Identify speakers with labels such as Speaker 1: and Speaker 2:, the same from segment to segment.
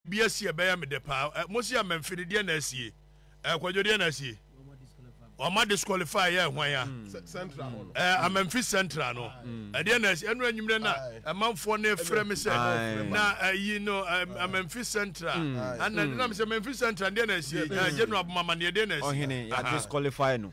Speaker 1: Bi asi ɛbɛyɛ me dɛ paa. Ɛ mosi ama mfe no deɛ na asie Ɛ kwadwo deɛ na asie Wama disqualify yɛ hwan a Ɛ ama mfe central no ɛdeɛ na asie Ɛno anwummerɛ na ɛmanfoɔ no frɛ me sɛ na ayi no Ɛ ama mfe central Ɛna nam sɛ ma mfe central deɛ na asie Ɛ general boma ma neɛ deɛ na asie Ɔhene ya disqualify no.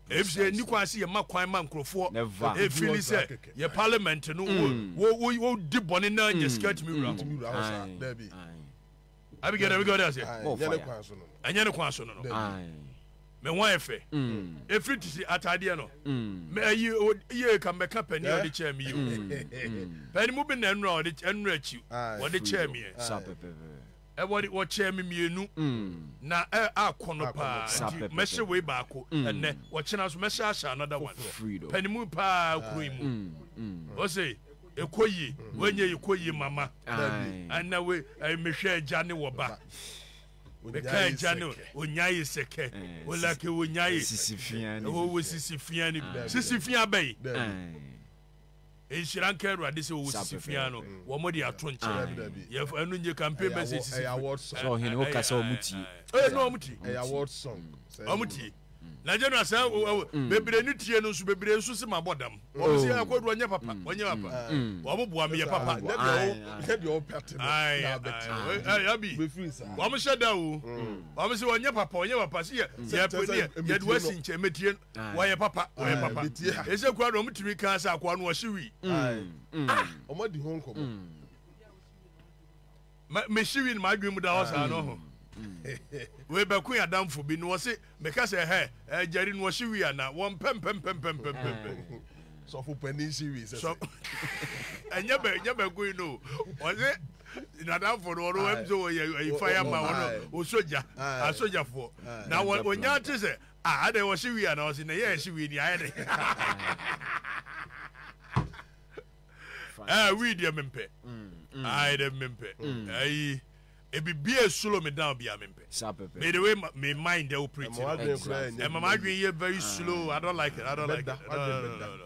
Speaker 1: Efisɛ enni kwan sɛ yɛma kwan ma nkurɔfoɔ feel sɛ yɛ parliament no wodi bɔne na nya sika tumi wura hɔ. Abigail na Abigail de ase. Ɛnyɛ ne kwan so no no. Me ho ayɛ fɛ. Efiri ti si ataadeɛ no. Mɛ ayi yie ka mɛka pɛni a ɔde kyɛɛ mi yie. Pɛni mu bi na ɛnura ɔde ɛnura akyi ɔde kyɛɛ mi yɛ. Wɔde wɔkyɛɛ me mmienu, na akɔ no paa, nti mɛhyɛ wei baako ɛnnɛ, ɔkyena nso mɛhyɛ ahyɛ another one, panimu paa kuro yi mu, ɔse ɛkɔ yie, wei nyɛ yie, ɛkɔ yie mama, ɛna wei, mehwɛ agya ne wɔba, meka agya ne onyaye sɛkɛ, olake onyaye, ɛwɔ wɔ sisi fia ni, sisi fia bɛyi. Nhyira nka Awurade sɛ wɔwɔ sisi fi ano. Wɔn de ato nkyɛn. Yɛf ɛno nye campaign message sisi fi. Sɛ ɔhene woka sɛ wɔn tie. Ɛyɛ no wɔn tie. Ɛyɛ award song. Wɔn tie. Na general sɛ bebree ne tie no nso bebree nso si ma bɔ dam. Wɔn si ɛkɔ do ɔnyɛ papa ɔnyɛ papa. Wɔn boa mi yɛ papa. Ɛyɛ deɛ wɔn pɛ te no. Ɛyɛ ɛbi. Wɔn hyɛ da o. Wɔn si ɔnyɛ papa ɔnyɛ papa si yɛ yɛ pɛ ne yɛ yɛ do ɛsi nkyɛn mɛ tie. wɔyɛ papa wɔyɛ papa ɛsɛ kura na ɔmutumi kan sɛ akoa no ɔhye wi ɔmadi ho nkɔmmɔ mehye wi no madwen mu da hɔ saa no ho wei bɛko yɛ adamfo bi na wɔse meka sɛ hɛ agyari no ɔhye wi ana wɔn pɛmpɛmpɛmpɛmpɛmpɛmpɛ sɔfo panin hye wi sɛ sɛ ɛnyɛ bɛ ɛnyɛ bɛ goyi no ɔse nadamfo no ɔno ɛm sɛ wɔyɛ ayifa yɛ ma ɔno ɔsogya asogyafoɔ na wɔnya te sɛ Ah adɛn wɔhye wii anaa ɔse na yɛ ɛhye wii ni ayɛ dɛ ah wii deɛ mempɛ ayɛ dɛ mempɛ ayi ebibi a slow me down bia mempɛ me the way me mind ɛ operate ɛma m'adwene yɛ very slow I don't like it I don't like it no no no no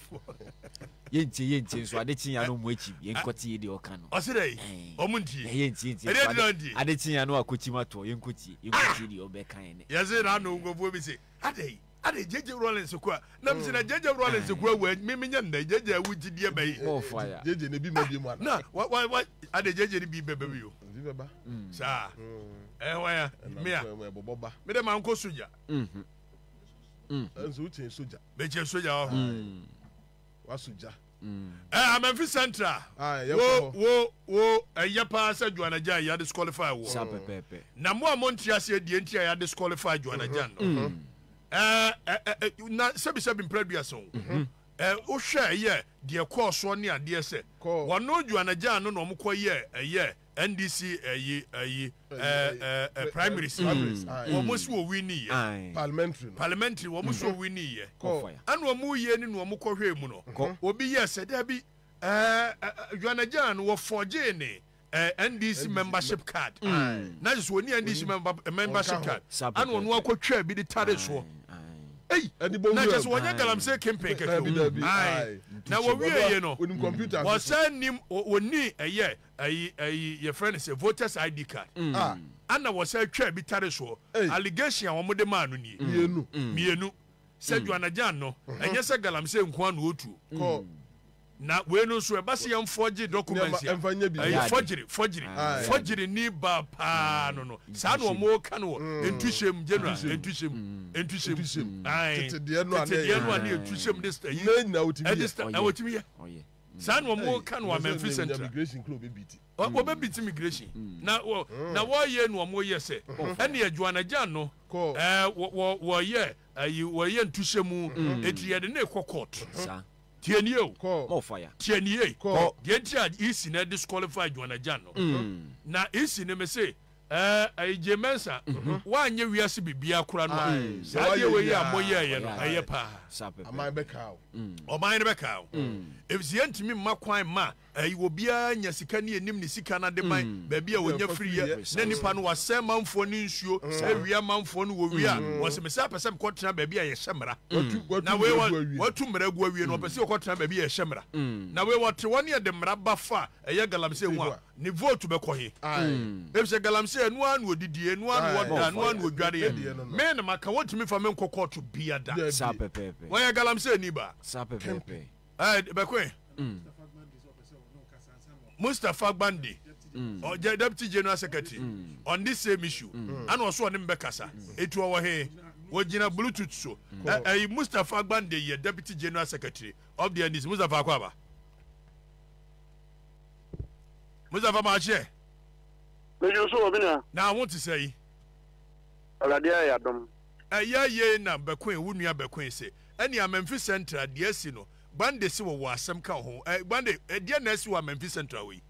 Speaker 1: yɛntie yɛntie nso ade kye ya no mu akyi yɛnkɔte yɛ deɛ ɔka no ɔse dɛ ɔmo ntie yɛntie ntie ɛdeɛ dina ntie ade kye ya no akɔkyim atoɔ yɛnkɔtie yɛnkɔtie deɛ ɔbɛka yɛ nɛ yɛse na ano nkurɔfoɔ bi se adɛ adɛ gyegye rollins kɔ a nam si na gyegye rollins kɔ a wɔ me menyɛ ndɛ gyegye awu gye deɛ bɛyi gyegye ne bi ma bi mu ana na wa wa wa adɛ gyegye ne bi bɛbɛ bi yo saa ɛhɔ ya mmea medɛ mankɔ sogya mm. nso wokyɛn sogya bɛkyɛn sogya wɔ ho mm. wasogya mm. eh, amamfi central ah, wo wo wo ɛyɛ paa sɛ joanagya yɛ disqualify wɔ na mo a monte aseɛ deɛ nti a yɛ disqualify joanagya no mm-hmm. eh, eh, eh, eh, na sɛbisɛbi mprɛ duasa o mm-hmm. eh, wohwɛ ɛyɛ deɛ kɔɔ soɔ ne adeɛ sɛ wɔno joanagya no na ɔmokɔ yɛ ɛyɛ ndc ɛyi ɛyi ɛɛ primary si wɔn mo si owi ni yɛ parliamentary parliamentary wɔn mo si owi ni yɛ ɛna wɔn mo yie ni na wɔn kɔ hwɛ mu no obi yɛ sɛ dɛbi ɛɛ yɔnagyan no wɔ fɔgye ne ɛɛ ndc membership card na sɛ wɔn ni ndc membership card ɛna wɔn akɔ twɛ bi de tare soɔ eyi na kyɛ sɛ wɔnyɛ galamsey kempen kɛkɛ o na wɔwie yɛ no wɔsɛ nim wɔn ni ɛyɛ ayi ayi yɛfrɛ no sɛ voters id card ana wɔsan twaa bi tare soɔ allegation a wɔn de maa no nie mmienu sɛ Juanajan no ɛnyɛ sɛ galamsey nko ano otuo na wei no nso ɛba sɛ yɛn fɔgye documents a ɛyɛ fɔgyere fɔgyere fɔgyere ni ba paa no no saa na wɔn ka no wɔ ntuhyɛm general ntuhyɛm ntuhyɛm tetedeɛ no a ne ntuhyɛm de ɛyi ɛde ɛwɔ tumi yɛ. saa na wɔn ka no wɔ amamfi central wɔbɛbiti migration na na wɔyɛ no wɔn yɛ sɛ ɛnna joanna jan no ɛɛ wɔ wɔyɛ ayi wɔyɛ ntuhyɛ mu eti yɛde ne kɔ court tiɛ nie o tiɛ nie deɛ nti a esi na disqualify joanna jan no na esi ne me se. Ɛɛ ɛyi Jay Mensah woanyɛ wiase biribiara kora no a saa adeɛ wei yi a mo yɛɛyɛ no ɛyɛ paa. Ɔman bɛkaa wo. Ɔman no bɛkaa wo. Efisɛ yɛntumi mma kwan mma ɛyi obiara nya sika ne yɛnim ne sika no ademan baabi a ɔnya firiiɛ na nipa no wasɛe manfoɔ no nsuo awia manfoɔ no wɔwie a wɔse me saa pɛ sɛ mekɔ tena baabi a yɛhyɛ mmara na wei watu mmara agu awie no ɔpɛ sɛ ɔkɔ tena baabi a yɛhyɛ mmara na wei wɔte hɔ ne yɛde mmara ba fa ɛyɛ galamsey ho a Ne vote bɛkɔ he? Efisɛ galamsey ɛno ara na ɔdidi, ɛno ara na ɔda, ɛno ara na ɔdwareɛ. Me na maka wɔntumi mfa me nkɔ court bia da. Wɔyɛ galamsey ni ba. Ɛɛ bɛkɔ he? Mustapha Gbande, ɔyɛ deputy general secretary on this same issue. Ana ɔso ɔne me bɛkasa. Etu ɔwɔ he? Wɔgyina bluetooth so. Ɛyi Mustapha Gbande yɛ deputy general secretary of the NDC. Mustapha akɔ aba. mustapha maa kyeɛ. meju so wɔ bi nua. na ho te sɛ yi. awurade ayɛ adom. ɛyɛ yei na bɛkoe wo nua bɛkoe se ɛne amamfi central deɛ asi no gbande se wɔwɔ asɛm ka ho ɛ gbande ɛdeɛ na asi wɔ amamfi central hɔ yi.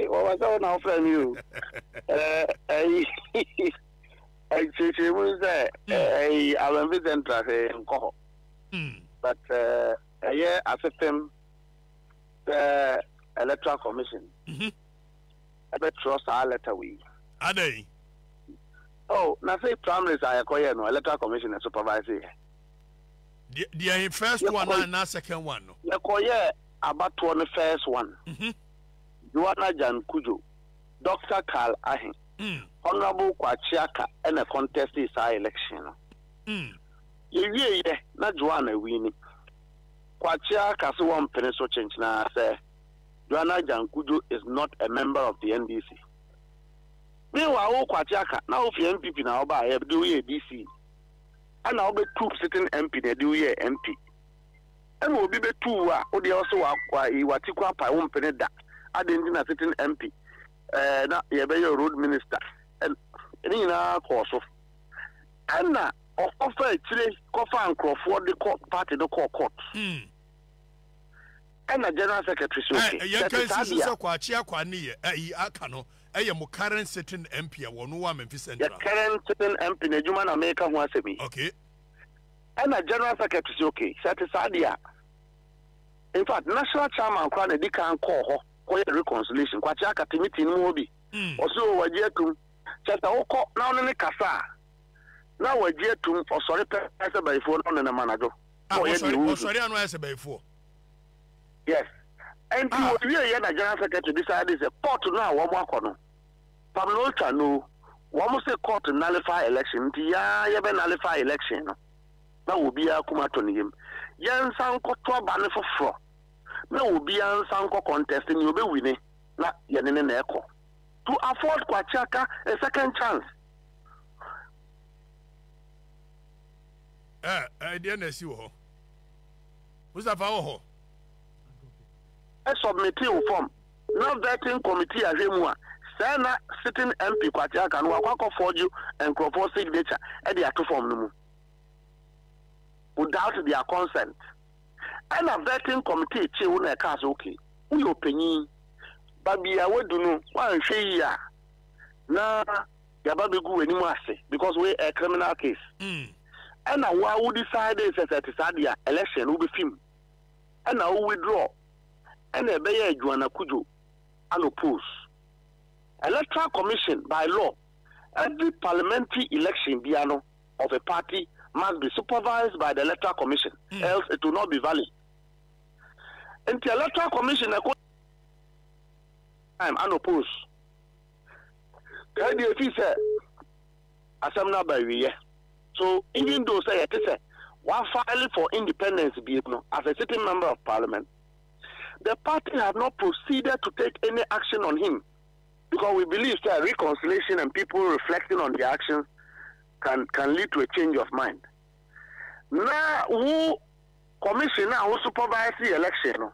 Speaker 1: wɔwɔ sɛ wo na wofrɛ me o ɛyi nkyerɛkyerɛmu no sɛ ɛyi amamfi central hwɛ nkɔ hɔ but ɛyɛ asefem sɛ electoral commission mhm. ɛbɛtwerɛ saa lɛta wei adɛn oh na sɛ primaries a yɛkɔyɛ no electoral commission na supervise yɛ deɛ first one na na second one no yɛkɔyɛ abatoɔ no first one mhm. joanna jan kujo dr carl ahe mm. honorable kwachiaka ɛna contest saa election no mm. yɛwieɛ na joanna wini Kwakyea ka se wɔmpene so kyenkyenaa sɛ Joanna Agyang Kudjo is not a member of the NDC. Meanwhile wo Kwakyea ka na wo fie NPP na wɔbaa yɛ de wo yɛɛ DC ɛna wo bɛ tuu sitting MP na de wo yɛɛ MP. Ɛna obi bɛ tuu wo a wo deɛ wo se wa wa yi wa ti kɔ apae wo mpene da adɛn nti na sitting MP ɛɛ na yɛ bɛ yɛ road minister ɛn ne nyinaa kɔɔ so ɛna Ɔkɔfa akyire kɔfaa nkorɔfoɔ de kɔ party no kɔɔ court. Ɛna general secretary so se sɛ ɛte saa deɛ a. Yɛnka nsi so sɛ Kwakye Akwaa ne yɛ ayi aka no yɛ mo current sitting MP a wɔ no wɔ Amenfi Central. Yɛ current sitting MP n'adwuma na meka ho asɛm yi. Okay. Ɛna general secretary se okay sɛ ɛte saa deɛ a infact national chairman koraa na ɛdikan kɔɔ hɔ kɔyɛ reconciliation Kwakye aka te meeting no mu hɔ bi ɔse o wagye atum kyɛ sɛ wokɔ na wo ne ne kasa a. na wɔagye atum, ɔsɔre pɛ ayɛ sɛ bayifoɔ na ɔnenam anadwo ah, na ɔyɛ deɛ ɔnsu. Ɔsɔre ano ayɛ sɛ bayifoɔ. Yes. Nti ah. wɔwie yɛ na general secretary bisaa de sɛ court no a wɔn akɔ no pam na ɔtwa no wɔn se court nullify election nti yɛa yɛbɛ nullify election no na obiara kum atɔ ne yam yɛnsa nkɔto aba no foforɔ na obiara nsa nkɔ contest ne ɔbɛwine na yɛne ne na ɛkɔ to afford kwakyaka a second chance Eh, eh, deɛ na asi wɔ hɔ mustapha wɔ hɔ submiti wo fam na vetting committee ahwɛ mu a sɛɛ na sitting mp kwate aka no wakɔ akɔ forge nkurɔfoɔ signature ɛde ato fam no mu without their consent ɛna vetting committee kye wo na ɛkaa sɛ okay woyɛ ɔpanyin ba bia wadu no woanhwɛ yi a na yaba begu w'anim ase because wei ɛyɛ criminal case ɛna wo a wo decide sɛ sɛ ɛte saa deɛ a election no wobɛfi mu ɛna wo withdraw ɛna ɛbɛyɛ Joan Akudjo an oppose electoral commission by law every parliamentary election bia no of a party must be supervised by the electoral commission else it will not be valid nti electoral commission ɛkɔ time an oppose Kaa deɛ ɛfiri sɛ asɛm no aba awieɛ. So even though sɛ yɛte sɛ wafile for independence biem no as a sitting member of parliament, the party had not proceeded to take any action on him because we believe sɛ reconciliation and people reflecting on their actions can, can lead to a change of mind. Na wo commission a wo supervise election no,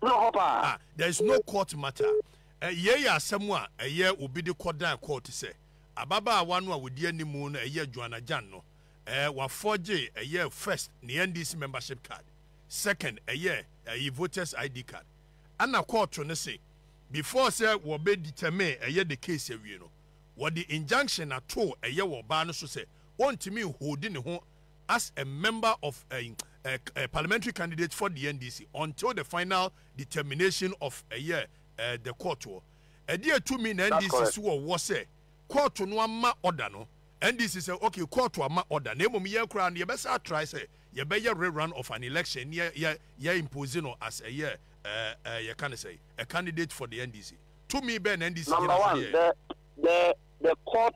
Speaker 1: Bro hɔ paa. Ah there is no court matter eh yei yɛ asɛm a ɛyɛ obi de kɔ dan court sɛ ababaawa no a ɔdi anim no ɛyɛ Joanna Jan no eh wa forge ɛyɛ first ne NDC membership card second ɛyɛ ɛyi voters ID card ɛna court no se before sɛ wɔ bɛ determine ɛyɛ the case awie no wɔde injunction atoo ɛyɛ wɔ ɔbaa no so sɛ ɔntumi nholdi ne ho as a member of a a parliamentary candidate for the NDC until the final determination of ɛyɛ eh, the court wɔ. Ɛdeɛ tumi na That's NDC correct. so wɔ wɔ sɛ kɔɔto no ama ɔda no. NDC sɛ okay kɔɔto ama ɔda na mmom yɛn koraa no yɛbɛsa atrae sɛ yɛbɛyɛ rerun of an election ne yɛ yɛ yɛ impose no as ɛyɛ eh, eh, yɛka ne sɛ a candidate for the NDC. Tumi bɛn na NDC Number gyina so de one, yɛɛ? the the the court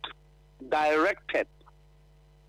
Speaker 1: directed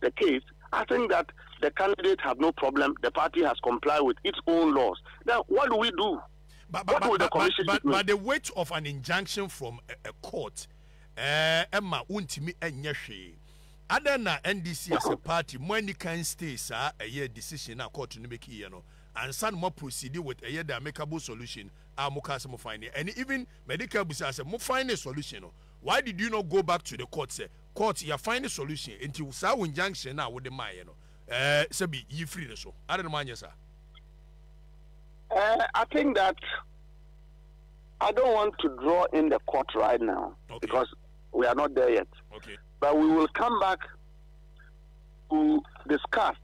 Speaker 1: the case asing that the candidate has no problem the party has comply with its own laws then what do we do but, but, but, but, but the weight of an injunction from a, a court ɛma eh, wontumi ɛnyɛ hwee adɛn na ndc as a party mo ani kan stay saa ɛyɛ decision a court no make yɛ no ansa na mo proceed with ɛyɛ the amicable solution a mo kaa sɛ mo find and even medical busa sɛ mo find a solution no why did you not go back to the court sɛ Court ya find solution nti saa wo injunction no a wode maayɛ no eh sɛbi yi firi no so adan na mo anyɛ saa. Eh I think that I don't want to draw in the court right now okay. because we are not there yet okay. but we will come back to discuss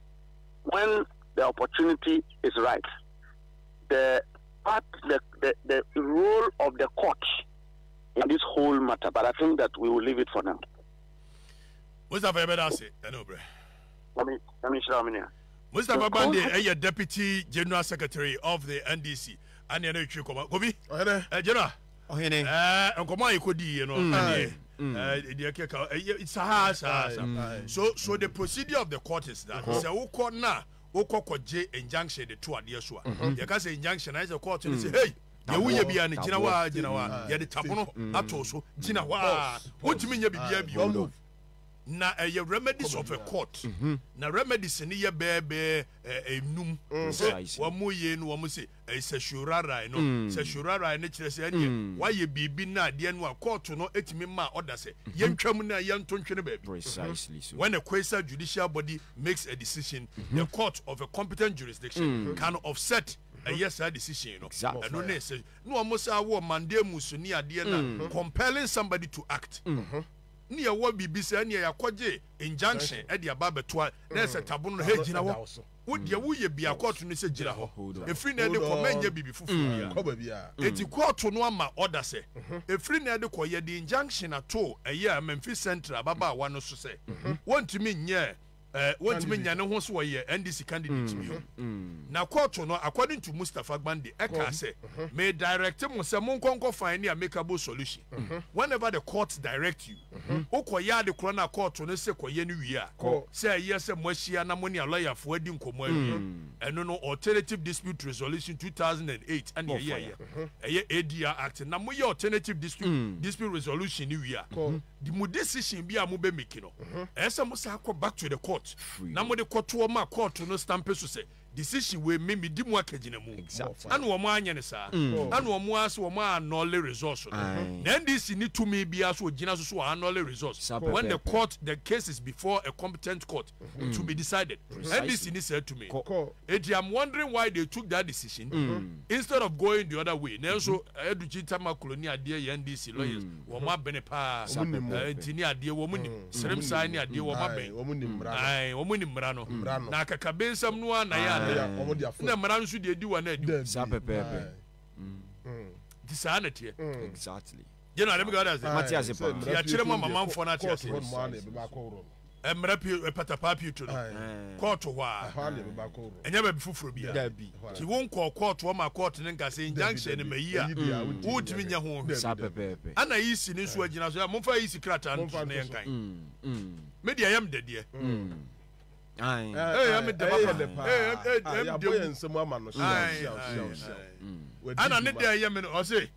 Speaker 1: when the opportunity is right the part the, the, the role of the court. in this whole matter but I think that we will leave it for now. Mustapha yɛ bɛ da ase ɛna obrɛ. Mami mami nsira mi nia. Mustapha Bande ɛyɛ deputy general secretary of the NDC ɛna ɛna etwi kɔma kobi. Ɔhɛnɛ. Ɛ general. Ɔhɛnɛ. Ɛɛ nkɔmɔ a yɛ kɔ di yɛ no ɛdeɛ ɛdeɛ kɛkɛ ɛyɛ saa saa saa so so the procedure of the court is that sɛ wokɔ na wokɔ kɔ gye injunction de to adeɛ so a yɛ ka sɛ injunction ayɛ sɛ court ne sɛ hey. Nea woyɛ biara no, gyina hɔ ara, gyina hɔ ara. Yɛde tabono ato so. Gyina hɔ ara. Wontumi nyɛ biribiara bio. Na ɛyɛ remedies of a court. Mhm. Na remedies no yɛ bɛɛbɛɛ eh, enum. Mm. Sɛ wɔn yɛ no, wɔn se eh, certiorari no. Mm. Certiorari no kyerɛ sɛ ɛneɛ mm. wɔayɛ biribi na adeɛ no a court no etumi maa ɔda sɛ mhm. yɛntwam na yɛnto ntwene baabi. Precisely so. When a quasi judicial body makes a decision, the court of a competent jurisdiction can offset ɛyɛ saa decision no ɛno ne sɛ na wɔn saa wɔ mandamus ne adeɛ na mm. compelling somebody to act mm-hmm. ne yɛwɔ biribi sɛ ɛneɛ yɛakɔgye injunction ɛde aba abɛtoa na ɛsɛ mm. tabono no hɛ gyina hɔ wodeɛ woyɛ bia kɔɔto no sɛ gyina hɔ ɛfiri na ɛde kɔ mɛnyɛ biribi foforɔ bia ɛti mm. kɔɔto no ama ɔda sɛ mm-hmm. ɛfiri na ɛde kɔ yɛde injunction ato ɛyɛ a memfi central ababaawa no so sɛ mm-hmm. wɔntumi nyɛ Eh, wɔntumi nya ne ho so ɔyɛ NDC candidate bio. Na kɔɔto no, according to Mustapha Gbande, ɛkaa sɛ, Me direct mo sɛ monkɔ nkɔ find ne amicable solution. Whenever the court direct you, wokɔyɛ ade korɔ no a kɔɔto no se kɔyɛ no wie a, sɛ ɛyɛ sɛ moahyia na mo ne alɔyafoɔ adi nkɔmmɔ awie, ɛno no Alternative Dispute Resolution 2008 ɛne ɛyɛeɛ. Ɛyɛ ADR Act. Na moyɛ Alternative Dispute Dispute Resolution no wie a, Di mo decision bi a mo bɛ make no, ɛyɛ sɛ mo san kɔ back to the court na mo de kɔ toɔ ma court no stampe so sɛ decision wei me me di mu akagyinamu. Ɛna wɔn anyɛ no saa. Ɛna wɔn ara se wɔn a annulle results no. Na NDC nni tumi biara sɛ ɔgyina so sɛ wɔ annulle results when the court the case is before a competent court to be decided. NDC nni saa tumi no. Enti I'm wondering why they took that decision instead of going the other way. Nanso Aduchi Tamaklo ne adeɛ yɛ NDC lawyers wɔn abene paa nti ne adeɛ wɔn nim serem saa ne adeɛ wɔn abɛn ae wɔn nim mmara no na akakabensɛm no ara na yɛ anaa na mmara nso deɛ di wɔn adi saa pɛpɛɛpɛ nti saa na teɛ. Exactly. General, ɛmi gada se. Mate ase paa. Ti akyerɛ mu ama manfoɔ no ate ase. Mmara pie patapaa pie to no. Kɔɔto hɔ a. Ɛnyɛ baabi foforɔ bi a. Ti wo nkɔɔ kɔɔto ɔma kɔɔto ne nka se injunction ne ma yi a. Wontumi nyɛ ho hwɛ. Saa pɛpɛɛpɛ. Ɛna EC ne nso agyina so. Momfa EC krataa no to na yɛnkan. Me deɛ ɛyɛ me dɛdeɛ. Ae. Ɛyɛ me dɛ papa. Ɛyɛ me dɛ. Ɛna ne dɛ ɛyɛ me no ɔse.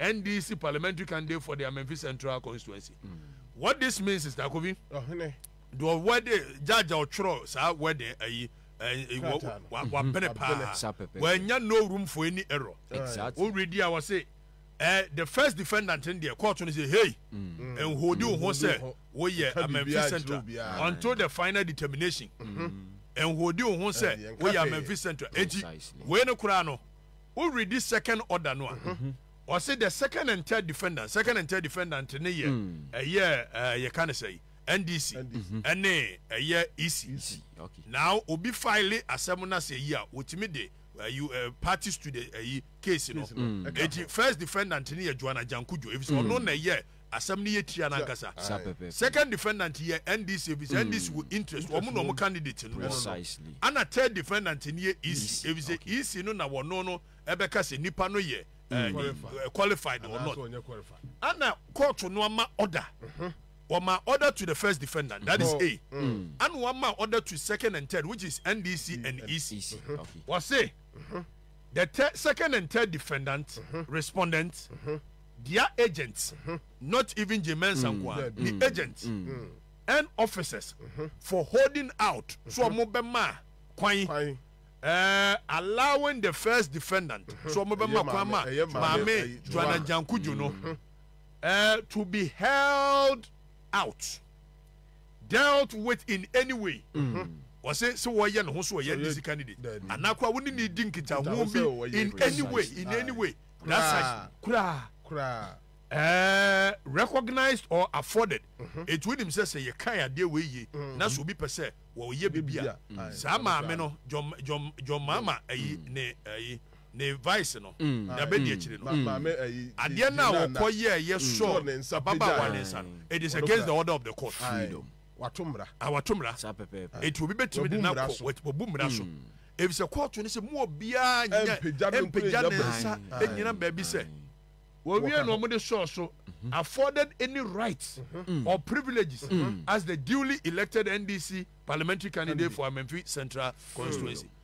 Speaker 1: NDC parliamentary candidate for the Amenfi Central constituency. Mm. What this means is that Kofi, Ohene, the wedding judge or chro sa wedding ayi. wapene paa wanya no room for any error exactly. woredi a wɔse eh, the first defendant in there court no say hey mm. and hold you ho sɛ woyɛ amanfi central until the final determination mm. and hold you ho sɛ woyɛ amanfi central enti wei no koraa no Wo readi second order no a, ɔse the second and third defendant, second and third defendant ne yɛ ɛyɛ ɛɛ yɛ ka ne sɛ yi NDC ɛne ɛyɛ EC. Na obi file asɛm no asɛ yi a, wɔtumi de ɛyi ɛɛ parties to the ɛyi case no. Eti first defendant ne yɛ Joanna Jankujo efisɛ ɔno na ɛyɛ Asɛm no yɛ tia no ankasa. Second defendant yɛ NDC efisɛ NDC wɔ interest wɔ ɔmo na ɔmo candidate no hɔ. Ɛna third defendant no yɛ EC efisɛ EC no na wɔno no ɛbɛka sɛ nipa no yɛ ɛɛ qualified or not. Ɛna court no ama order. Wɔma order to the first defendant that is A. Ɛna wɔama order to second and third which is NDC and EC. Wɔse the third, second and third defendant respondent. Dia agent not even Jay Mensah nkoa ne agent and officers for holding out so ɔmo bɛ ma kwan ɛɛ allowing the first defendant so ɔmo bɛ ma kwan ma maame Juana Njankudjo no ɛɛ to be held out dealt with in any way. ɔse sɛ wɔyɛ ne ho so ɔyɛ ndc candidate anaa koraa wo ne ne di nkitaho bi in any way in any way koraa koraa koraa ɛɛ recognized or afforded mhm. etu onim sɛ sɛ yɛ kan adeɛ wɔ yie mhm. na so obi pɛ sɛ wɔyɛ bibi a mhm. saa maame no jɔn jɔn jɔn maama ɛyi ne ɛyi ne vice no dabe di akyire no adeɛ no a wɔkɔ yɛ yɛ sɔ ababaawa ne nsa no it is against the order of the court. Freedom. Wato mmara. A wato mmara. Saa pɛpɛɛpɛ. Eti obi betumi de n'akɔ wabu mmara so. Hmm. Efisɛ kɔɔto no sɛ mu obiara nyɛ mpagya ne nsa nyina baabi sɛ wɔwie na wɔde sɔɔ so mhm. afforded any rights mhm. or privileges mhm. as the duly elected NDC parliamentary candidate for Amenfi Central constituency.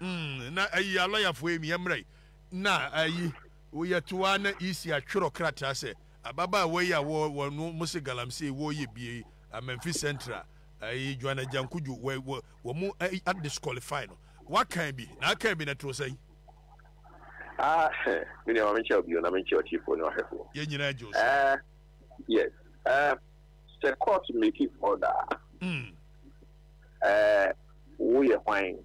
Speaker 1: Umm na ayi a lɔyafoɔ yi meɛ mmerɛ yi na ayi woyɛ to ara na EC atwerɛ krataa sɛ ababaawa yi a wɔ wɔ no mo se galamsey wɔ yɛ bie yi Amanfi central ayi Juan Ajankuju wɔ wɔ wɔ mo ayi a disqualify no wakan bi na akan bi na ɛtoo sɛn. Ah heh me nua ma me nkyɛ wo bio na me nkyɛ ɔtiefoɔ ne ɔhwɛfoɔ. Yɛn nyinaa gye wo so. Eh yes eh sɛ court make order a, eh wo yɛ hwan?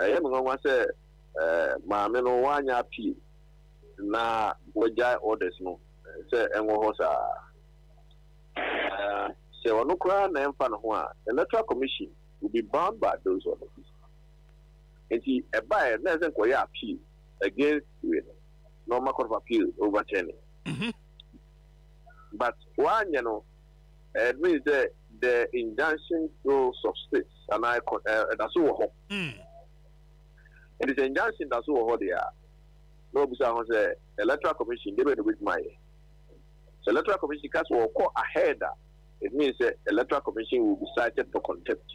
Speaker 1: Ɛyɛ me nwanwa sɛ Maame no wanyɛ appeal na wagyae orders no sɛ ɛnwɔ hɔ saa. Na sɛ ɔno koraa na ɛmfa ne ho a, Electoral Commission will be bound by those orders. Enti ɛbaeɛ na ɛsɛ nkɔyɛ appeal against wei no na ɔma Court of Appeal overturn it. But wanyɛ no. It means dɛ the injunction still subsists anaa ɛkɔ ɛ ɛda so wɔ hɔ. Nti sɛ injunction da so wɔ hɔ deɛ a, na wɔbisa ho sɛ electoral commission deɛ bɛn na wɔbɛtumi ayɛ. Sɛ electoral commission ka sɛ wɔkɔ ahead a, it means sɛ electoral commission will be cited for contempt.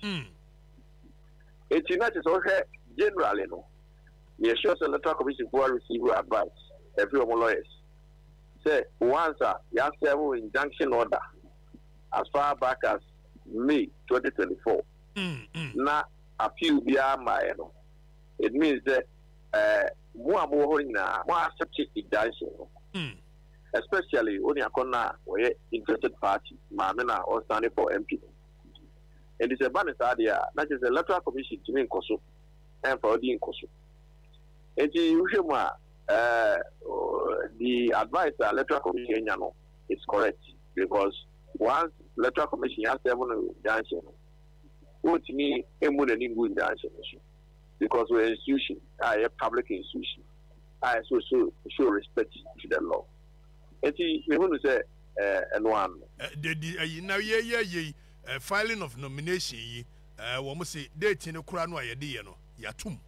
Speaker 1: Nti na kyerɛ sɛ wohwɛ generally no, yɛ sure sɛ electoral commission foɔ receive advice ɛfiri wɔn lawyers. sɛ once a yɛasɛɛvo injunction order as far back as May twenty twenty four na appeal biara mmaeɛ no, it means sɛ eh, mo a mowɔ hɔ no nyinaa mo accept injunction no especially wo nua kɔnɔ a ɔyɛ interested party maame no a ɔnsane for MP no. Enti sɛ ɛba ne saa deɛ a na kyerɛ sɛ electoral commission tumi nkɔ so ɛmfa ɔdi nkɔ so. Enti wohwɛ mu a Eh the advice a electoral commission anya no is correct because once electoral commission ya serve no junction no wɔntumi mmu n'ani ngu junction no so because wɔyɛ institution a ɛyɛ public institution a ɛso so show respect to the law nti mehunu sɛ ɛno eh, ano. Eh, Dedi ayi eh, na yɛyɛ yei filing of nomination yi wɔn se date no kora no a yɛde yɛ no yɛatum.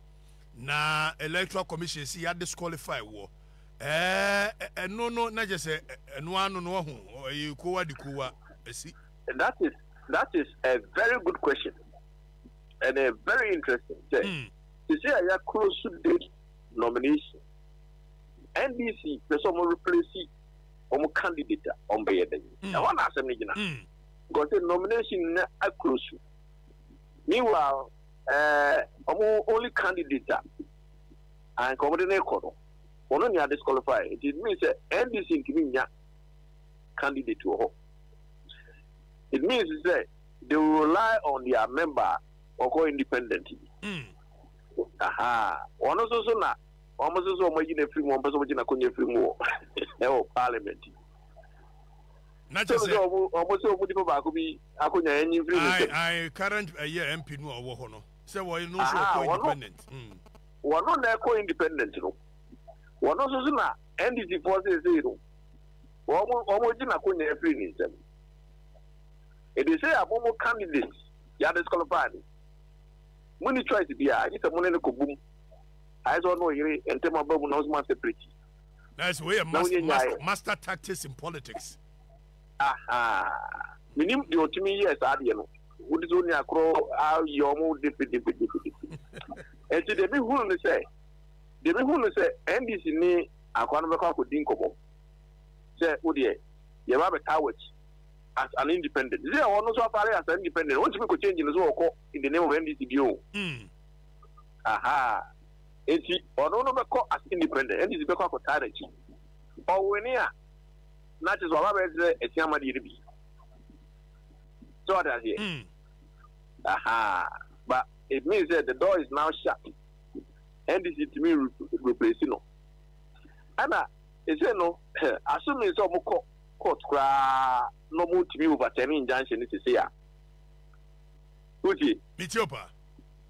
Speaker 1: Na electoral commission si ya disqualify woɔ ɛɛ ɛno no na kyɛ sɛ ɛno ano no wahu ɛyɛ kowa di kowa ɛsi. That is that is a very good question and a very interesting sɛ sisi a ya close date nomination NDC pɛ sɛ ɔmo replace ɔmo candidate a ɔmo bɛyɛ dɛ ɛhɔ na asɛm no gyina because nomination na close meanwhile. Ɛɛ, wɔn only candidate a anka wɔde no rekɔ no, ɔno nea disqualify. Nti it means sɛ NDC ntumi nnya candidate wɔ hɔ. It means sɛ they will rely on their member ɔkɔ independent bi. Hmm. Aha, wɔn nso so na wɔn nso so wɔn ayi na firi mu, wɔn pɛ sɛ wɔn gye na konya firi mu wɔ ɛwɔ parliament. na kyɛ sɛ wɔn sɛ wɔn nipa baako bi akonya yɛn nyi mfiri ne nsam. ayi ayi current ɛyɛ eh, mp no a ɔwɔ hɔ no sɛ wɔn no nso ɔkɔ independent. Hmm. wɔn no na ɛkɔ independent no wɔn no nso so na ndc foɔ seesei no wɔn wɔn gye n'akonya afiri ne nsam ebi sɛ yɛabɔ mo candidate yɛadisqualify no mo ni choice biara gye sɛ mo ne no kɔ bom ayɛ sɛ ɔno ɔyere ntɛm aba mu na ɔsoma separate. na ɛsɛ wɔyɛ master master master tactics in politics. menim deɛ ɔtumi yɛ saa deɛ no wode sɛ ɔni akorɔ ayɛ ɔmo defedefedefedefe ɛnti deɛ mehunu no sɛ deɛ mehunu no sɛ ndc ne akoa no bɛkɔ akɔdi nkɔmmɔ sɛ wodeɛ yɛba bɛtaa w'akyi as an independent sɛ ɔno nso afare as an independent ɔntumi kɔ change no so ɔkɔ in the name of ndc bio hmm. aha Enti ɔno no bɛkɔ as independent ɛna ebi bɛkɔ akɔtaa n'akyi. Ɔwene a, na kyerɛ sɛ waba abɛkyerɛ atua ma deɛ no bi. So wate aseɛ? Ahaa. But it means sɛ the door is now shut. NDC tumi replace no. Ɛna ɛsei no, assuming sɛ wɔkɔ court koraa na wɔtumi overturn injunction no sesei a, wotie? Metie wo paa.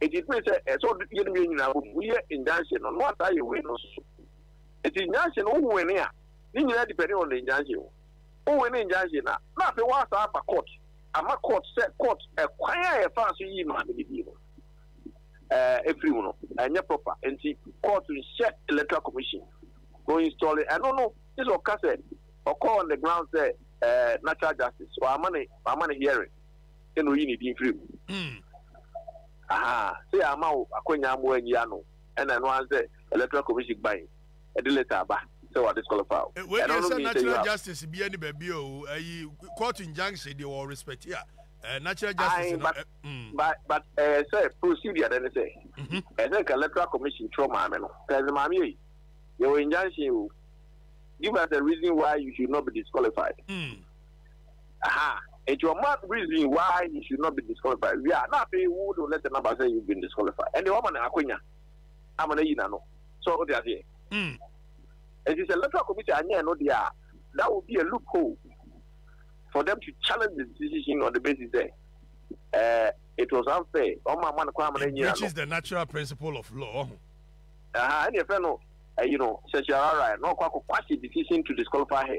Speaker 1: Enti bere sɛ ɛsɛ sɛ ɔde yɛn mmienu nyinaa bom yɛ injunction no, na ɔtaa yɛ wei no nso so. Enti injunction no, wo win a, ne nyinaa depend on the injunction o. Wo win injunction a, na afei woasan aba court ama court sɛ court ɛkwan a yɛfaa so yii maame no din no ɛɛ efiri mu no ɛnyɛ proper nti court nhyɛ electoral commission no installing ɛno no gye sɛ ɔka sɛ ɔkɔ on the ground sɛ ɛɛ natural justice wama ne wama ne hearing. sɛ na oyi ne din firi mu. Aha, sɛ yɛamma wo akwanya amma woanyi ano ɛna ɛno ara ne sɛ Electoral Commission guan de letter aba sɛ wa disqualify wo. Wei deɛ sɛ natural justice biaa ni baabi a o, ayi court injunction deɛ wɔ respect a eh, natural justice no. Aye, but, mm. but, but eh, sɛ procedure dɛ ne sɛ, mm-hmm. ɛsɛ nka Electoral Commission twerɛ maame no, sɛ maame ei, yɛwɔ injunction o, give us a reason why you should not be disqualified. Mm. Ahaa. Nti ɔma reason why he should not be disqualified wie a na afei wo de wo letter no aba sɛ you've been disqualified. Ɛnde woama no akwanya ama no ayi n'ano. So wote aseɛ? Nti sɛ electoral committee anyɛ ɛno deɛ a, that will be a loophole for them to challenge the decision on the basis sɛ eh, it was unfair, wɔn amma no kwan ama no anyi n'ano. It breaches the natural principle of law, wahu. Ahaa, ɛnneɛ yɛfrɛ no ɛyi no certiorari na ɔkɔ akɔ quash a decision to disqualify her.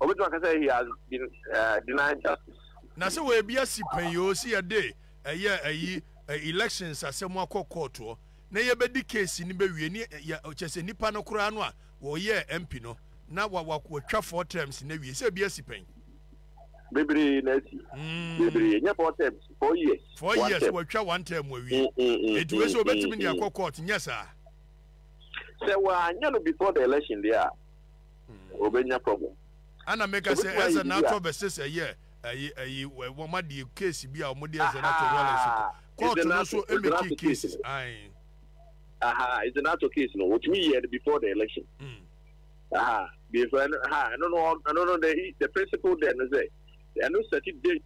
Speaker 1: Wɔbɛtumi aka sɛ he has been uh, denied justice. Na sɛ wɔyɛ bi asi pɛn yi o, si yɛde ɛyɛ ayi elections asɛm akɔ kɔɔtoɔ na yɛbɛdi case no bɛwie ne yɛ kyɛ sɛ nipa no koraa no a wɔyɛɛ MP no na wɔtwa four terms na wie sɛ bi asi pɛn. bebree na asi mm. bebree nyɛ four terms four years four years wɔatwa one term wɔawie mm, mm, enti wei sɛ wɔbɛtumi de akɔ court nyɛ saa sɛ wɔanyɛ no before the election deɛ a ɔbɛnya problem. Ɛna meka sɛ ɛsɛ n'atɔ versus ɛyɛ ɛyi ɛyi wɔn adeɛ case bi a wɔn de ɛsɛ n'atɔ real estate court no so emeki cases ayi. aha ɛsɛ n'atɔ case no wotumi yɛ no before the election hmm. aha before ɛno ha ɛno no ɛno no the the principle there no sɛ ɛno set date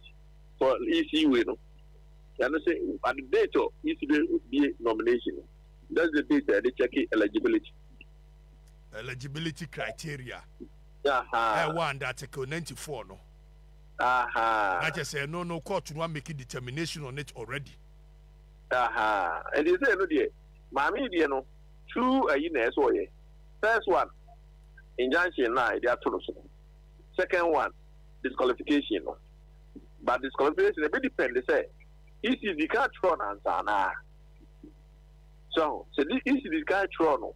Speaker 1: for ec way no ɛno sɛ at the date of ec bɛ bie nomination that's the date ɛde check eligibility. Eligibility criteria a ɛwɔ under Article ninety four no, na kyerɛ sɛ ɛno no court no amake determination on it already. Ɛnti sɛ ɛno deɛ maame yi deɛ no two ayi na ɛsɛ ɔyɛ first one injunction na ɛde ato no so second one disqualification no but disqualification ɛbɛ depend sɛ ECD ka kyerɛ no ansa anaa so sɛ ECD ka kyerɛ no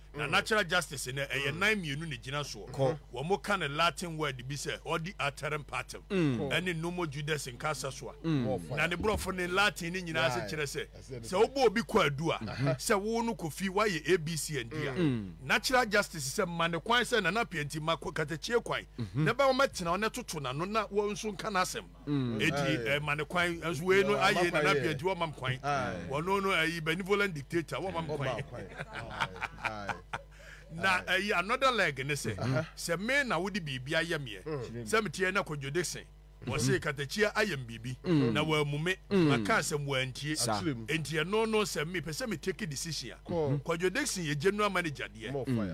Speaker 1: Na natural justice no, ɛyɛ nan mmienu na ɛgyina soɔ. Wɔka no Latin word bi sɛ odi arterem partem ne nomo judes nka asa so a, na ne borɔfo ne Latin no nyinaa ase kyerɛ sɛ, sɛ wobɔ obi kwaadu a, sɛ wo no kɔ fie, woayɛ A, B, C and D a. Natural justice sɛ, ma no kwan sɛ Nana Appiah nti, ma Katakyie kwan, na bɛma matena hɔ na ɛtoto n'ano na wo nso nka n'asɛm. Eti ɛma no kwan nso wei no ayɛ nana bia nti wɔma m kwan wɔno no ayi benevolent dictator wɔma m kwan na ɛyi another leg ne sɛ sɛ me na wode biribi ayɛ meɛ sɛ meteɛ na kɔdwode se wɔse katakyia ayɛ m biribi na wɔamu me maka asɛm wɔantie enti ɛno no sɛ mepɛ sɛ metake decision a Kwadwo Dickson yɛ General Manager deɛ,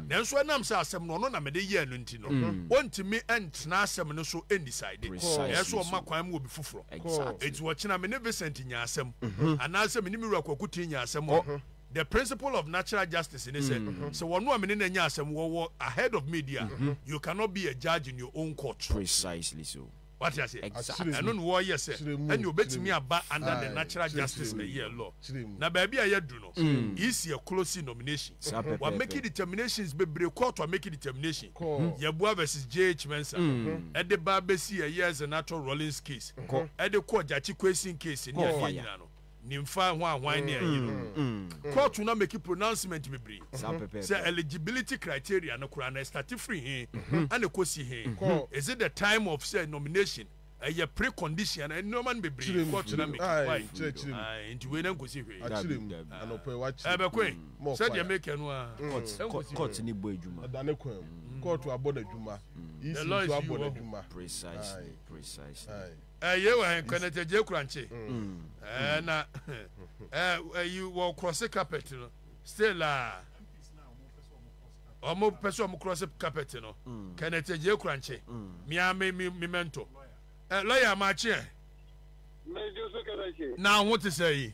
Speaker 1: nanso ɛnam sɛ asɛm no ɔno na mede yɛɛ no nti no, ɔntumi ntena asɛm no so ndecide, ɛyɛ sɛ ɔma kwan ma obi foforɔ. Enti ɔkyena me ne Vincent nyaa asɛm, anaasɛ me ne me wura Kwaku Tee nyaa asɛm a, the principle of natural justice ne sɛ, sɛ wɔn a me ne no anya asɛm wɔwɔ ahead of me deɛ a, you cannot be a judge in your own court. Wate aseɛ? Exactly. Ɛno na wɔreyɛ sɛ Kyerɛ mu. ɛnneɛ Kyerɛ ɔbɛtumi mu. aba under the Aye. natural Kyerɛ justice kyerɛ mu. Nigerian law. Kyerɛ mu. Na baabi a yɛadu no, EC ɛclose nomination. Saa pɛpɛɛpɛ. Wɔamake determinations bebree, court amake determination. Kɔ. Yeboah versus JH Mensah, ɛde ba bɛsi ɛyɛɛ Zenator Rawlings case, Kɔ. ɛde kɔɔ Gyakye Quayson case ne Kɔ. adeɛ Fire. nyinaa no. Nimfa ho a hwan ne ayi no. Kɔɔto no ameki pronouncement bebree sɛ eligibility criteria no koraa no ɛstate firi he ɛna ɛkɔsi he. Is it the time of sɛ nomination ɛyɛ pre-condition anaa nnoɔma no bebree kɔɔto no ameki why nti wei no ɛnkɔsi hwee. Ɛbɛkɔ e sɛdeɛ mekɛ no aa ɛnkɔsi hwee. The law is you hɔ. ɛyɛ wɔ hɛn kwan ɛtɛ gye kura nkye ɛɛ na ɛɛ ɛyi wɔ cross carpet no still a wɔn pɛ sɛ wɔn cross carpet no kɛn ɛtɛ gye kura nkye mia mi mi mi mɛntɔ ɛ lɔya maa kyeɛ na ho te sɛ yi.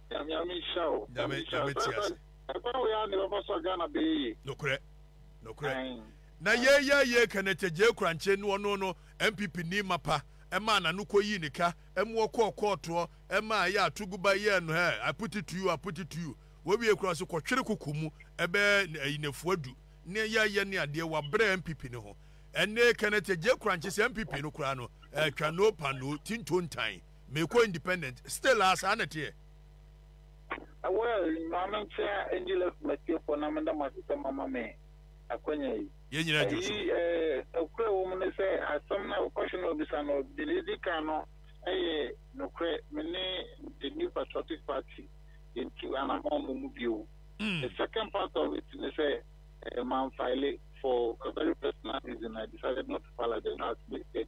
Speaker 1: Nyame Nyame nhyira wo. Nyame Nyame nhyira wo. Ɛkwan tiase. Ɛkwan wei ara na ɛbɛfa so a Ghana bɛyɛ yie. Nokorɛ nokorɛ. Ae Na ae. yei yɛ yie Kenneth Agyei Korankye no ɔno no NPP ni mapa ɛmaa nano kɔyii ne ka ɛmu ɔkɔɔ kɔɔtoɔ ɛmaa ɛyɛ a Tuguba yɛɛ no hɛɛ I put it to you I put it to you wawie koraa ɔse kɔtwere koko mu ɛbɛɛ nnafua du ne yɛ yɛ ne adeɛ wabrɛ NPP no ho ɛnee Kenneth Agyei Korankye sɛ NPP no koraa no ɛɛtwa no panoo tintontan. Mekɔ independent still a saa na ɛteɛ. Well ma me nkyea Angelus Matiefo na meda mo ase sɛ moama me akwanya yi. Yɛn nyinaa dwo so. Ɛyi eh, nokorɛ wɔ mu ne sɛ asɛm no a question no a obisa no deɛ edi kan no ɛyɛ nokorɛ. Me ne the New Patriotic Party yɛntu anamɔn mmɔ mu bio. The second part of it ne sɛ eh, manfile for a very personal reason, I decided not to file as the general assembly said.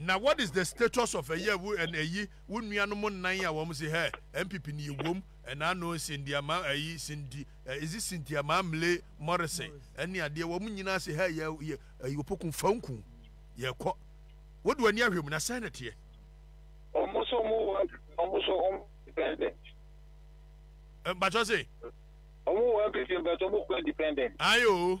Speaker 1: Na what is the status of ɛyɛ wo ɛn ɛyi wo nua nom nnan a wɔn se hɛ NPP ni yɛ wom ɛna ano nsendia ma ɛyi senti ɛ is it Cynthia Mamle Morrison ɛne adeɛ wɔn nyinaa se hɛ yɛ yɛ ɛyi opoku fa nku yɛ kɔ wo de w'ani ahwɛ mu na sɛn na teɛ. Wɔn so wɔn wɔ wɔn so wɔn independent. Mpatsɔ se. Wɔn wɔ NPP mpatsɔ wɔn kɔ independent. Ayo.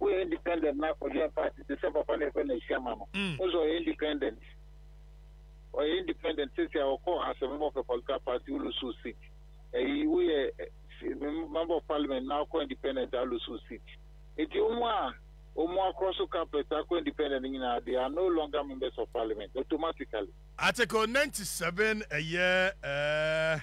Speaker 1: Woyɛ independent na akɔhwɛ party te sɛ papa na ɛfɛ na ahyia ma no. Mm. Wo sɛ ɔyɛ independent. Ɔyɛ independent sisi a ɔkɔ asɛm of a political party ulusu seat. Ɛyi woyɛ member of parliament na akɔ independent alusu seat. Eti wɔn a wɔn akɔ so carpet akɔ independent nyinaa they are no longer members of parliament automatically. Article ninety seven ɛyɛ ɛɛ.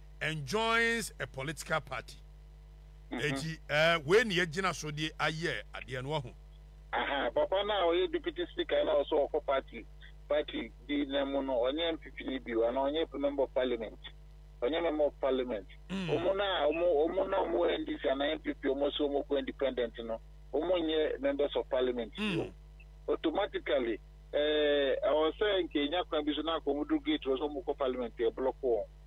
Speaker 1: and joins a political party eti eh wei ne yɛgyina so de ayɛ adeɛ no wahu. Aha papa no a ɔyɛ deputy speaker no a ɔsɛ ɔkɔ party party bi na mu no ɔnyɛ NPP ni bio anaa ɔnyɛ member of parliament ɔnyɛ member of parliament ɔmo no a ɔmo ɔmo na ɔmo wɔ NDC anaa NPP ɔmo sɛ ɔmo kɔ independent no ɔmo nyɛ members of parliament bio automatically ɛɛ ɔwɔ sɛ nka enya kwan bi so na akɔ ɔmo do gate wɔ sɛ ɔmo kɔ parliament ɛblɔko wɔn.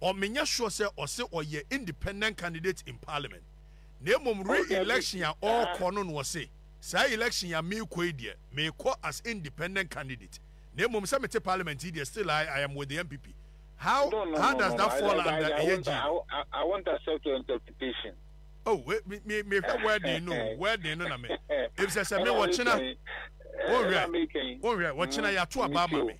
Speaker 1: Ɔ menyɛ sure sɛ ɔse ɔyɛ independent candidate in parliament na mmom re election a ɔɔkɔ no na ɔse saa election yi a meekɔ yi deɛ meekɔ as independent candidate na mmom sɛ mete parliament yi deɛ still I I am with the NPP how how does that fall under ɛyɛ gyee I won't accept your interpretation. Oh wei me me mehwɛ wording no o wording no na me ebisɛ sɛ me ɔkyena wonhwɛ wonhwɛ ɔkyena yato abaa ma me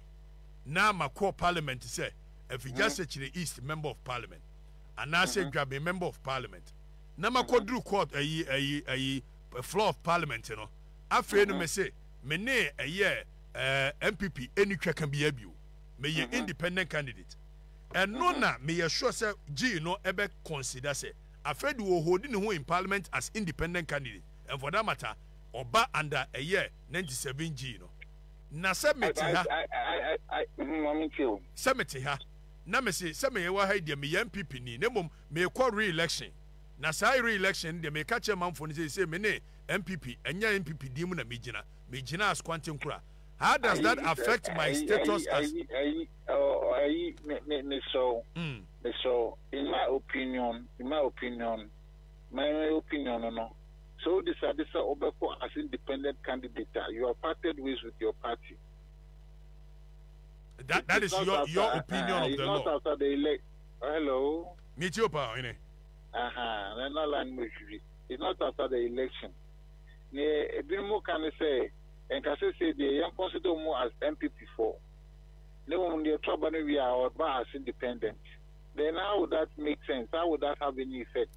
Speaker 1: na makɔ parliament sɛ Afigya Sekyere East Member of Parliament anaasɛ Dwaben Member of Parliament na makɔduru court ayi ayi ayi floor of parliament no afei no mese me ne ɛyɛ ɛɛ NPP ɛni twa ka biara bio meyɛ independent candidate ɛno na meyɛ sure sɛ gyee no ɛbɛ consider sɛ afei de wɔ hold ne ho in parliament as independent candidate and for that matter ɔba under ɛyɛ 97 gyee no Na sɛ mete ha. Sɛ mete ha. Na mese sɛ meyɛ wɔ ha yi deɛ meyɛ NPP ni na mmom merekɔ re-election. Na saa re-election no deɛ meka kyerɛ manfoɔ no seesei me ne NPP ɛnyɛ NPP din mu na megyina. Megyina as Kwantenkura. How does that affect my status as. Ayi mesrɛ wo. Mesrɛ wo in my opinion in my opinion my opinion no no. Sɛ wo decide sɛ wobɛkɔ as independent candidate a, you have parted ways with your party. That, that is your, your opinion of the law. It's not after the elect. Hello? Me too, pa, ine. Aha, na na line me hwi. It's not after the election. Ne ebinom ka ne sɛ nka sɛ sɛ deɛ yɛn consider mu as MPP for. Ne wɔn deɛ to aba no wie a ɔba as independent. Then how would that make sense? How would that have any effect?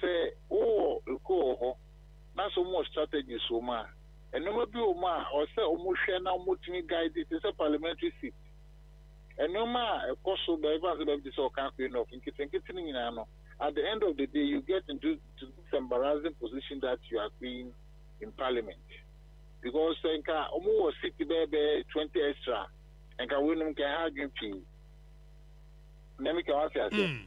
Speaker 1: Sɛ wowɔ ekuo wɔ hɔ na sɛ wɔwɔ strategies wɔ mu a, nnoɔma bi wɔ mu a ɛwɔ sɛ wɔhwɛ na wɔtumi guide te sɛ parliamentary seat. Nnoɔma a ɛkɔ so baabi baako ne baabi te sɛ Ɔka Akwa North, nketenkete no nyinaa no, at the end of the day you get into to this embarrassing position that you are being in parliament. Because sɛ nka wɔwɔ seat bɛyɛ bɛyɛ twenty extra a, nka weinom nka ɛha adwene pii. Nea meka wate aseɛ?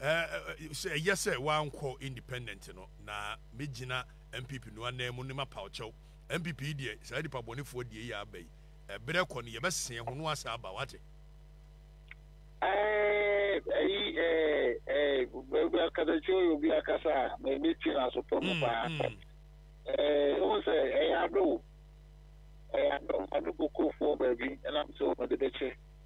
Speaker 1: Sɛ ɛyɛ sɛ wankɔ independent no na me gyina NPP no anan mu ne ma paw kyɛw. NPP yi deɛ saa nipa bɔnefoɔ die yi aba yi ɛberɛ kɔ no yɛbɛ seɛ ho no asa aba wate. Ɛɛ ɛyi ɛɛ ɛɛ akasakyi ɔyɛ obi akasa a na ɛbɛ ti na so pɔ no paa. Ɛɛ ɛwɔ sɛ ɛyɛ ado ɛyɛ ado ado kokofoɔ baabi ɛnam sɛ ɔmɛde bɛkyɛ.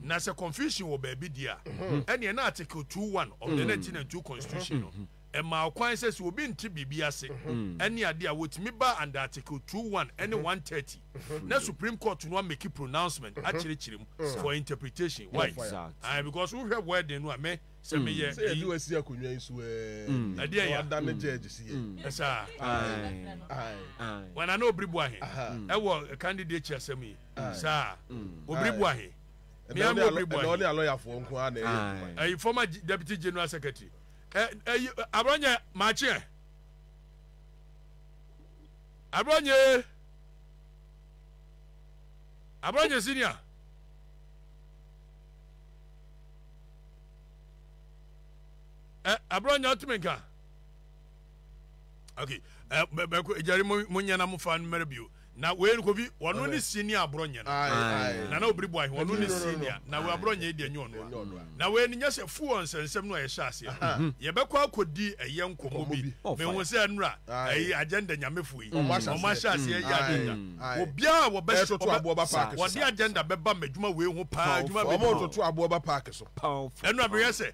Speaker 1: Na sɛ confusion wɔ baabi deɛ a, ɛneɛ na Article 2.1 of the 1992 Constitution no ɛmaa kwan sɛ sɛ obi nte biribi ase ɛne adeɛ a, wɔtumi ba under Article 2.1 ɛne 130 na Supreme Court no ameki pronouncement akyerɛkyerɛ mu for interpretation. Why? Aye, because wohwɛ wording no a, me sɛ meyɛ Sɛ yɛde wo asi akonnwa yi so ɛɛ, ɛdeɛ na ya. wadane judge si yɛ. Ɛsaa. Aye. Aye. Wɔn a na ɔbiriboahe Aha. ɛwɔ candidature asɛm yi. saa obiri bu ahe mea mu obiri bu ahe ɛna ɔne alɔyafoɔ nko ara na ɛyɛ adwuma ɛyi former deputy general secretary ɛyi abrɔnyɛ maakyeɛ abrɔnyɛ abrɔnyɛ senior ɛ abrɔnyɛ ɔtumi nka okay ɛ bɛ bɛ ko gyari mo nyɛ na mo fa no mɛrɛ bio. Na wei noko bi ɔno ne sie ni aborɔ nyɛ no na na obiri boahe ɔno ne sie ni a na wei aborɔ nyɛ yi deɛ nyɛ ɔno a na wei ni nyɛ sɛ fu wɔ nsɛnsɛm no a yɛhyɛ aseɛ no yɛbɛkɔ akɔ di ɛyɛ nkɔmɔ bi me ho sɛ ɛnora ɛyi agenda nyamefo yi ɔmo ahyɛ aseɛ ɛyɛ agenda obiara wɔ bɛ so ɔde agenda bɛba mɛ dwuma wei ho paa dwuma bɛ dwuma ɛnora mehwɛ sɛ.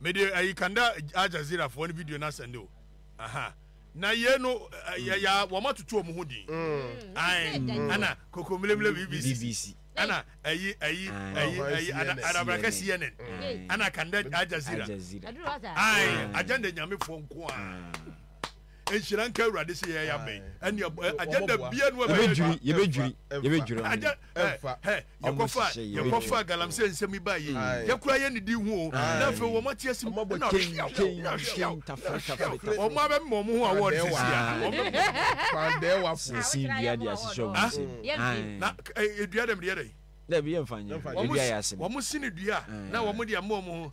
Speaker 1: Mede ayi kanda Al Jazeera foɔ no video no asɛnde o aha na yei no yɛ ya wɔn atutu wɔn ho din ae ana kokomlemle BBC ana ayi ayi ayi ayi ana arabraka CNN ana kanda Al Jazeera ae agenda nyame foɔ nko a nhyira nka awurade sɛ yɛyɛ abɛn ɛne agenda bia no ɛbɛdwiri yɛbɛdwiri yɛbɛdwiri agenda Yɛkɔfa yɛkɔfa galamsey nsɛm yi baa yi yɛkura yɛ ne din ho o na afei wɔn ate asim na hwiaw wɔn abɛmma wɔn ho awɔ de sisi a wɔn bɛmma sisi dua de asisi wɔn nsam na dua dɛm deɛ dɛ wɔn si ne dua na wɔn de ama wɔn ho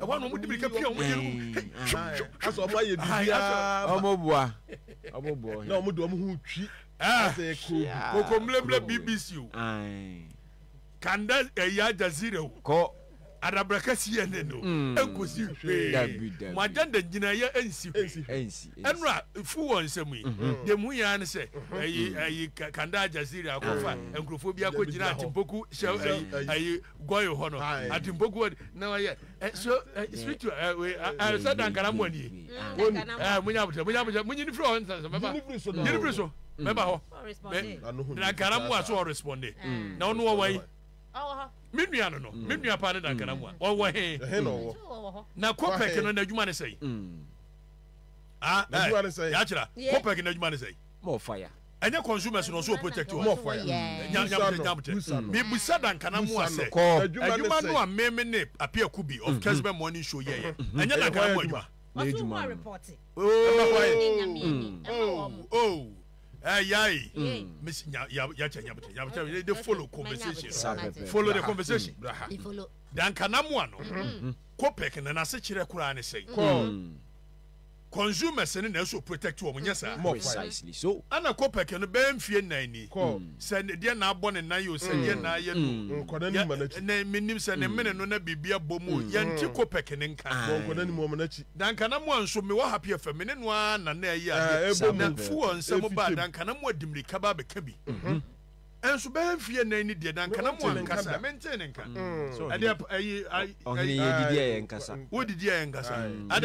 Speaker 1: ɛhɔ na wɔn de mirika pia wɔn yɛn mu asɛ wɔn ayɛ biribiara wɔn boa wɔn boa na wɔn de wɔn ho twi asɛ kuro koko mmerɛmmerɛ bbc o kanda ɛyɛ ajazira o kɔ adabraka cnn o nkosi hwee mo agenda nyinayɛ ɛnsi hwee ɛnura fu wɔn nsɛm yi deɛ mu yɛn ano sɛ ɛyi ɛyi kanda ajazira akɔfa nkurɔfoɔ bi akɔ gyina atempoku hyɛ ɛyi ɛyi gɔe hɔ no atempoku wɔ na ɔyɛ so spiritual ɛɛ sɛ dankara mu ani ɛɛ munya abotire munya abotire munyi ni firi hɔ nsa mɛba nyini firi so mɛba hɔ mɛ dankara mu a so ɔresponde na ɔno ɔwɔ yi me nua no no me nua paa ne dankara mu a ɔwɔ he na kɔpɛk no n'adwuma ne sɛyi ah ɛɛ yakyira kɔpɛk n'adwuma ne sɛyi mɔfaya. Ɛnyɛ consumers no ɔsɛ ɔ protect ɔ mɔfoɔ ya nya nyamtɛ nyamtɛ me bisa da nkana mo a sɛ adwuma no a me me ne ape akubi of kesbɛ morning show yɛ yɛ ɛnyɛ da nkana mo adwuma ooh Eh, yai. Mm. Miss nya ya ya cha nya bata. Ya bata they, they follow conversation. Sabe, follow the conversation. Braha. They follow. Dan kana mu ano. Kopek na na se kyerɛ kura ne sɛn. Kɔ. Consumers no na ɛsɛ ɔprotect wɔn, nyɛ saa. Precisely so. Ɛna Kopecky no bɛyɛ mfie nnan ni, sɛ deɛ na abɔ ne nan o, sɛ deɛ na ayɛ no o, na menim sɛ ne mene no na biribi abɔ mu o, yɛnte Kopecky no nka. Na nka na moa nso, mewɔ Happy FM, me ne no ara na na ɛyɛ adeɛ, na fuel nsɛm ba a, na nka na moa de mmirika ba abɛka bi. Ɛnso bɛyɛ mfie nnan ni deɛ, na nka na moa nkasa, mentee ne nka. Ɛdeɛ, ayi, ayi, ayi, ayi, wodidi a yɛnkasa, adɛn nti?